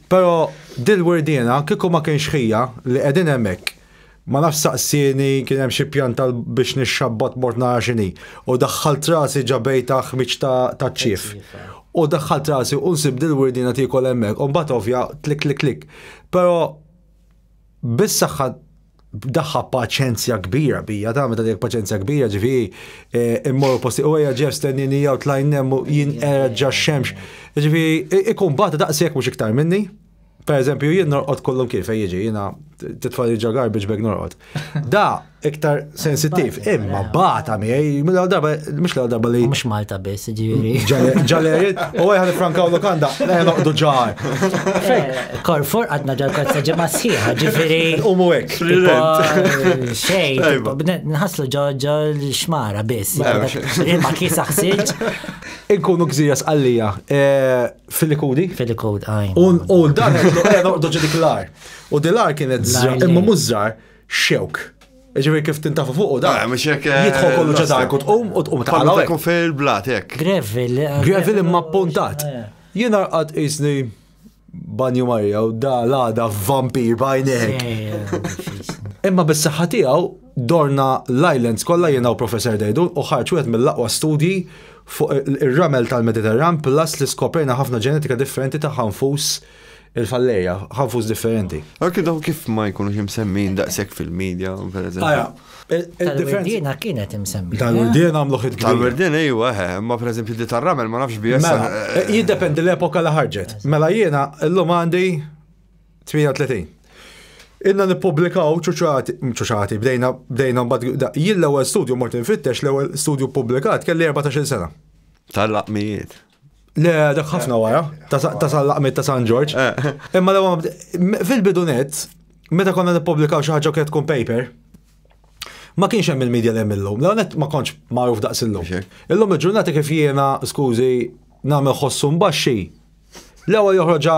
Pero dil wirdiena kieku ma kienx ħija li qegħdin hemmhekk ma nafx saqsieni kien hemm xi pjan tal biex nixxabbat mort nara x'inhi u daħħalt rasi ġa bejta ħmieġ ta taċ-ċief u daħħalt rasi u nsib dil wirdiena tiekol hemmhekk u mbagħad ovvja tlikklikklikk pero bis-saħħa daħħa paċenzja kbira bija, ta' meta dek paċenzja kbira ġifi eh, immorru posti u għeja ġef stennini jaw tlajn nemmu jien erġa xemx. Ġifi ikun bat daqsek mux iktar minni. Per eżempju, jien norqot kollum kif jiġi, jina titfali ġagar biex beg norqot. Da, iktar sensittiv. Imma bata miegħi, mill-għal darba, mhux l-għal darba li. Mhux Malta biss, ġifieri. Ġalerit, u għajħan frankaw lokanda, le noqdu ġar. Eh, Korfor għadna ġar kazza ġemma sħiħa, ġifieri. U mu hekk. Xejn, nħaslu ġoġo l-xmara biss. Ma kisa ħsiġ. Inkunu gżira sqallija eh, fil-likudi. Fil-likudi, għajn. U l-dar, noqdu ġidik l-ar. U dil-ar kienet zra, imma mużżar. xewk. Ġifieri kif tintafu fuq u da. Ah, mhux hekk, eh, Jidħol kollu ġa l-ossa. dark u tqum u tqum Pallu tħallu ta' hekk. kun fej il-blat, hekk. Gravel. eh, Gravel imma appuntat. eh. Jien arqad isni banju Marja u da l-għada vampir bajnek. Eh, eh, Imma bis-saħħa tiegħu dorna l-islands kollha jiena u Professor Dejdun u ħarġ wieħed mill-aqwa studji fuq il- ir-ramel tal-Mediterran plus li skoprejna ħafna ġenetika differenti ta' ħanfus il-falleja, ħanfus differenti. Anki dawn kif ma jkunux imsemmin daqshekk fil-medja, per eżempju. Il-differenza kienet imsemmin. Tal-werdien eh? għamlu ħid. Tal-werdien ejwa, eh, eh, ma per eżempju di tar-ramel ma nafx bies. Mela, jiddependi l-epoka li ħarġet. Mela jiena l-lum għandi 38. Inna nipublikaw ċuċati, ċuċati, bdejna, bdejna, bdejna, jilla għal studju mortin fittex l-ewel studju publikat kelli 14 sena. Tal-laqmijiet. Le, dak ħafna wara, ta' sal-laqmet ta' San Ġorġ. Eh. Imma l fil-bidunet, meta konna nippubblikaw xi ħaġa kienet tkun paper, ma kienx hemm il-medja li hemm illum. L-għonet ma kontx magħruf daqs illum. Illum il-ġurnata kif jiena, skużi, nagħmel ħossu mbaxxi. L-ewwel joħroġa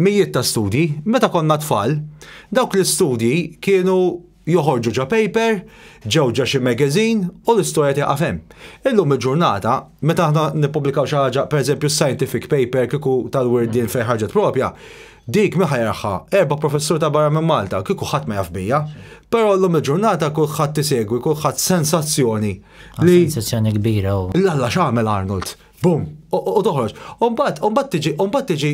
Mijiet ta' studji, meta konna tfal, dawk l-istudji kienu joħorġu ġa paper, ġew ġa xi magazine u l-istorja tieqaf hemm. Illum il-ġurnata, meta aħna nippubblikaw xi ħaġa, pereżempju scientific paper kieku tal-wirdien fejn ħarġet propja, dik min ħajraħħa? Erba' professur ta' barra minn Malta, kieku ħadd ma jaf bija. Però llum il-ġurnata kulħadd isegwi, kulħadd sensazzjoni li. Sensazzjoni kbira. L-Alla x'għamel Arnold? Bum, u toħroġ. Umbat, umbat tiġi, umbat tiġi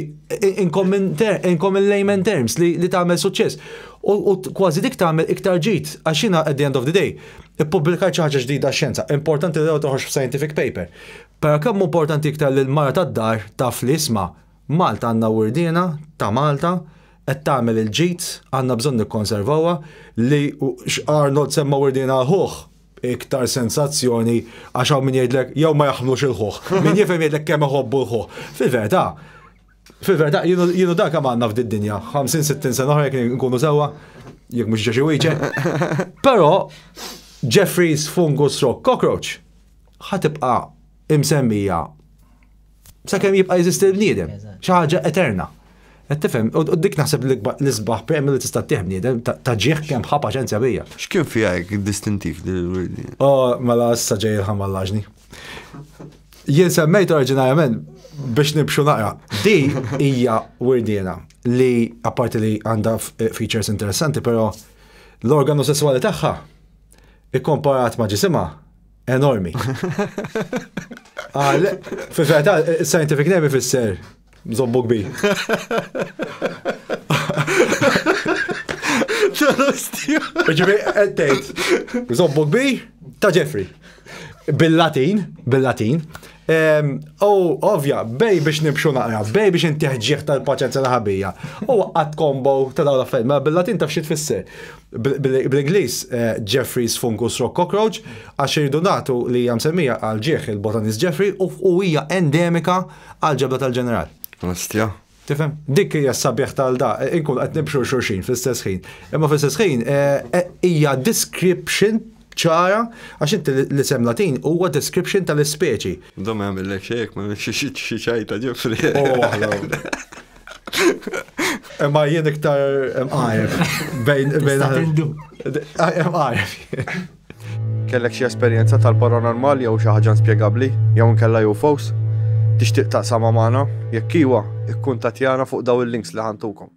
in common layman terms li tagħmel suċċess. U kważi dik tagħmel iktar ġid, għax jiena at the end of the day, ippubblikajt xi ħaġa ġdida xjenza. Importanti li toħroġ f'scientific paper. Però kemm importanti iktar li l-mara tad-dar taf li isma' Malta għandna wirdiena ta' Malta qed tagħmel il-ġid, għandna bżonn nikkonservawha li x'Arnold semma wirdiena ħuħ iktar sensazzjoni għax hawn min jgħidlek jew ma jaħmlux il-ħuħ. Min jifhem jgħidlek kemm iħobbu l-ħuħ. Fil-verità, fil-verità jienu dak kemm għandna f'din dinja 50-60 sena oħra jekk nkunu sewwa, jekk mhux ġeġi wieġe. Però Jeffries fungus rock cockroach ħatibqa' imsemmija sakemm jibqa' jeżisti l-bniedem, xi ħaġa eterna. Qed tifhem, u dik naħseb l-isbaħ premju li tista' tieħ bniedem ta' ġieħ kemm ħa paċenzja bija. X'kien fiha hekk distintiv din il-wirdi? Oh, mela issa ġej il-ħamallaġni. Jien semmejt oriġinarjament biex nibxu naqra. Di hija wirdiena li apparti li għandha eh, features interessanti, però l-organu sessuali tagħha ikkomparat ma' ġisimha Enormi. Għal, fi feta, scientific name ifisser zombu kbir. Ġibi, għettejt, zombu kbir ta' Jeffrey. Bil-Latin, bil-Latin, Oh, ovvja, bej biex nibxu naqra, bej biex inti ħġieħ tal-paċenza ta' ħabija. U għad kombo ta' dawn l-affarijiet, ma mela bil-Latin taf xi tfisser. Bl-Ingliż eh, Jeffrey's Fungus Rock Cockroach, għax irridu nagħtu li hija msemmija għal ġieħ il-botanist Jeffrey u hija endemika għal ġebla tal-ġeneral. Ostja. Tifhem? Dik hija s-sabiħ tal da, inkun qed nibxu xulxin fl-istess ħin. Imma fl-istess ħin eh, eh, hija description ċara għax inti l-isem Latin huwa description tal-ispeċi. Da ma jagħmillek xejk, ma xi ċajta ġifri. Imma jien iktar imqajf bejn bejn. Imqajf. Kellek xi esperjenza tal-paranormal jew xi ħaġa inspjegabbli jew inkella UFOs? Tixtieq taqsamha magħna? Jekk iwa, ikkuntattjana fuq dawn il-links li ħantukom.